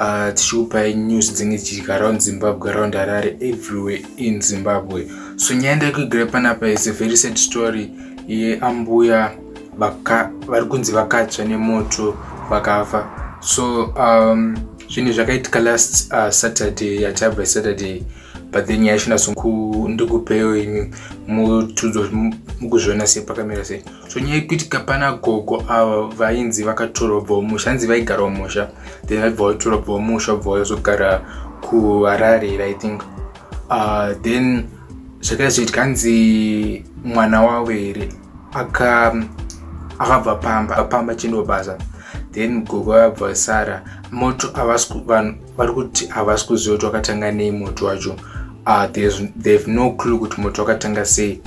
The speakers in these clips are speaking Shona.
uh, tichikupai news dzinge dzichiitika around zimbabwe around harare everywhere in zimbabwe so nyaya ndaikuigrai panapa is a very sad story yeambuya vari kunzi vakatsva nemoto vakafa so um, zvinhu zvakaitika last uh, saturday yachabva saturday but then nyaya ishinasondikupewo imi mukuzviona sei pakamira sei Zvonyaya yekuti kapana gogo ava vainzi vakatorwa bva umusha hanzi vaigara umusha then vaibva vatorwa bva umusha bva vazogara kuharare i think uh, then zvakaiva zvichiitika hanzi mwana wavo here akabva pamba pamba chindobasa then gogo vabva sara moto avasi vanhu vari kuti havasi kuziva kuti wakatanga nei moto wacho uh, they have no clue kuti moto wakatanga sei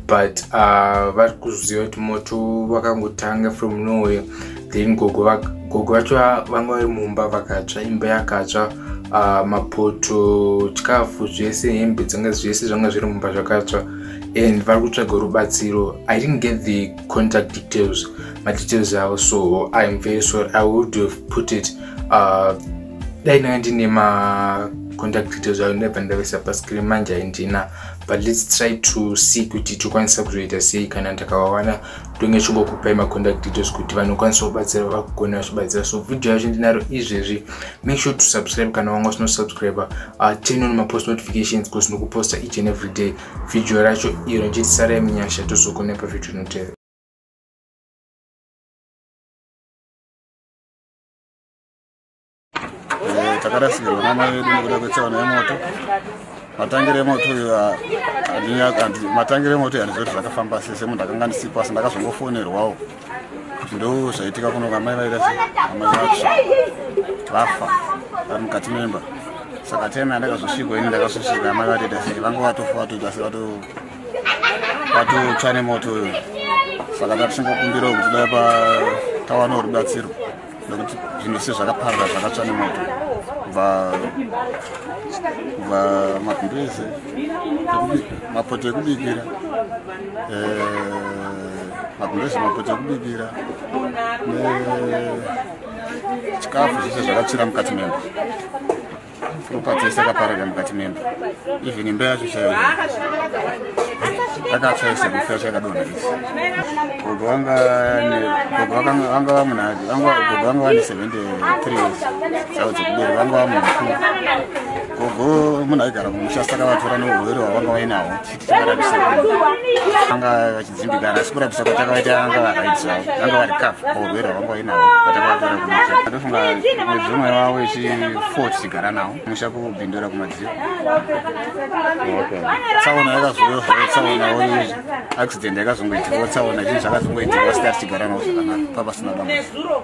but uh, vari kuziva kuti moto vakangotanga from nowhere then gogo vacho vanga vari mumba vakatsva imba yakatsva uh, mapoto chikafu zvese hembe dzanga zvese zvanga zviri mumba zvakatsva and vari kutsvaga rubatsiro i didn't get the contact details madetails avo so im very sorry i would have put it uh, uh, dai ndanga ndine macontact details ayo ndaibva ndavesa pascreen manje handina but lets try to see kuti tokwanisa kuzoita sei kana ndakavawana ndonge chingokupai macontact details kuti vanokwanisa kubatsira vakugona vachibatsira so video yacho ndinaro izvezvi make sure to subscribe kana wanga usino subscribe uh, turn on mapost notifications because ndikuposta each and every day video racho iro njetisarayi munyasha tozogona pavideo inotevera Eh, takarasikirwa namai vedu nekuda kwetsaona yemoto matangire emoto matangire emoto yani zvoti zvakafamba sese munhu akanga ndisipo asi ndakazongofonerwawo ndo zvaitika kuno kamai vaita se amai vatsva vafa vari mukati memba saka tena ndakazosvikwa ini ndakazosvika amai vatoita se vange vatofa vatoita se vato vatotsva nemoto uyo saka tatichingokumbirawo kuti dai patawanawo rubatsiro nekuti zvinhu se zvakaparira zvakatsva nemoto kubva kubva mabhiri ese mapoto ekubikira mabhiri ese mapoto ekubikira chikafu zvese zvakatsvira mukati memba ropa dzese akaparada mukati memba even imba yacho chaiyo akatsva ese kufa yacho yakadonha isi gogo vanga vanga vamunhadi gogo vanga vane 73 years dzavo dzekuberi vanga vamunhu mukuru gogo munhu aigara kumusha saka vatora neuhwere hwavanga vainahwo anga vachidzimbikana asi kurapisa kwatakaita anga vakaitisa anga vari kafu paurwere hwanga vainavo patakavatora kumusha atofunga mwedzi umwe wavo ichi four tichigara nawo musha kubindura kumadziro tsaona yakazoyo zvavo tsaona oizvi accident yakazongoitikawo tsaona chii zvakazongoitikawo sita tichigara nawo zvakanaka papasina dambudziko